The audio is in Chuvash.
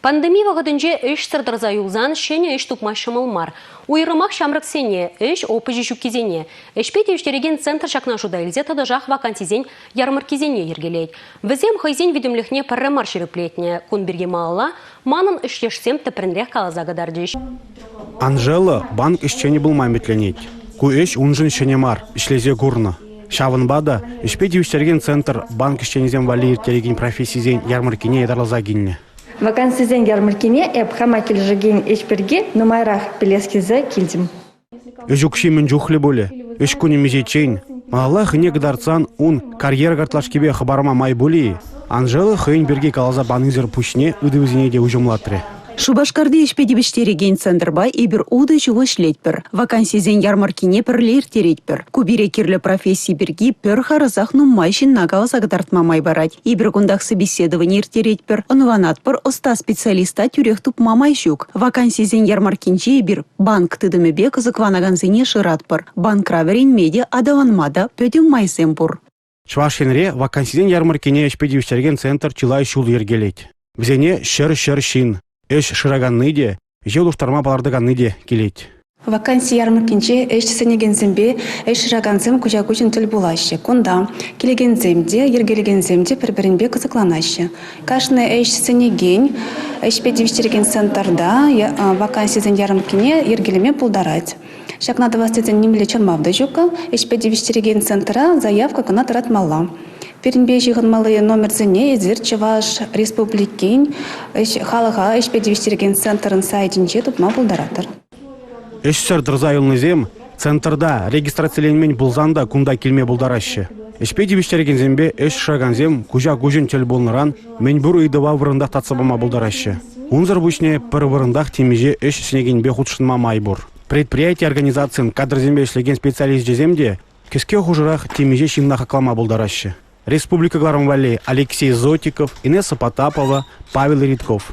Пандеми вӑхӑтӗнче ӗҫсӗр тӑрса юлсан ҫӗнӗ ӗҫ тупма ҫӑмӑл мар. Уйрӑмах ҫамрӑксене, ӗҫ опычӗ ҫуккисене, ӗҫпе тивӗҫтерекен центр ҫакна шута илсе тӑтӑшах вакансисен ярмӑрккисене йӗркелет. Вӗсем хӑйсен витӗмлӗхне пӗрре мар ҫирӗплетнӗ. Кун пирки малалла манӑн ӗҫтешсем тӗплӗнрех каласа кӑтартӗҫ. Анжела банк ӗҫченӗ пулма ӗмӗтленет. Ку ӗҫ уншӑн ҫӗнӗ мар, ӗҫлесе курнӑ. Ҫавӑнпа та ӗҫпе тивӗҫтерекен центр банк ӗҫченӗсем валли ирттерекен профессисен ярмӑрккине ятарласа килнӗ. Вакансисен ярмӑрккине эп хама килӗшекен ӗҫ пирки нумайрах пӗлес килсе килтӗм. Ӗҫ укҫи мӗн чухлӗ пулӗ? Ӗҫ кунӗ мисеччен. Малалла хӑйне кӑтартсан ун карьера картлашкипе хӑпарма май пулӗ-и? Анжела хӑйӗн пирки каласа панисӗр пуҫне ытӑвӗсене те уҫӑмлатрӗ. Шупашкарти ӗҫпе тивӗҫтерекен центрпа эпир утӑ ҫу ӗҫлетпӗр. Вакансисен ярмӑрккине пӗрле ирттеретпӗр. Ку пире кирлӗ професси пирки пӗр харӑсах нумай ҫынна каласа кӑтартма май парать. Эпир кунтах собеседовани ирттеретпӗр, ӑнланатпӑр, ӑста специалиста тӳрех тупма май ҫук. Вакансисен ярмӑрккинче эпир банк тытӑмӗпе кӑсӑкланакансене шыратпӑр. Банкра вӗренме те, аталанма та пӗтӗм майсем пур. Чӑваш Енре вакансисен ярмӑрккине ӗҫпе тивӗҫтерекен центр чылай ҫул йӗркелет. Вӗсене ҫӗр-ҫӗр ҫын, ӗҫ шыраканни те, ӗҫе улӑштарма палӑртаканни те килет. Ваканси ярмӑрккинче ӗҫ сӗнекенсемпе ӗҫ шыракансем куҫа-куҫӑн тӗл пулаҫҫӗ. Кунта килекенсем те, йӗркелекенсем те пӗр-пӗринпе кӑсӑкланаҫҫӗ. Кашни ӗҫ сӗнекен, ӗҫпе тивӗҫтерекен центрта вакансисен ярмӑрккине йӗркелеме пултарать. Ҫакна тӑвас тесен нимле чӑрмав та ҫук-ха. Ӗҫпе тивӗҫтерекен центра заявка кӑна тӑратмалла. Пирӗнпе ҫыхӑнмалли номерсене эсир Чӑваш Республикин халӑха ӗҫпе тивӗҫтерекен центрӑн сайтӗнче тупма пултаратӑр. Ӗҫсӗр тӑрса юлнисем центрта регистрациленмен пулсан та кунта килме пултараҫҫӗ. Ӗҫпе тивӗҫтерекенсемпе ӗҫ шыракансем куҫа-куҫӑн тӗл пулнӑран мӗнпур ыйтӑва вырӑнтах татса пама пултараҫҫӗ. Унсӑр пуҫне пӗр вырӑнтах темиҫе ӗҫ сӗнекенпе хутшӑнма май пур. Предприяти-организацин кадрсемпе ӗҫлекен специалисчӗсем те кӗске хушӑрах темиҫе ҫынна хаклама пултараҫҫӗ. Республика кӑларӑм валли Алексей Зотиков, Инесса Потапова, Павел Редков.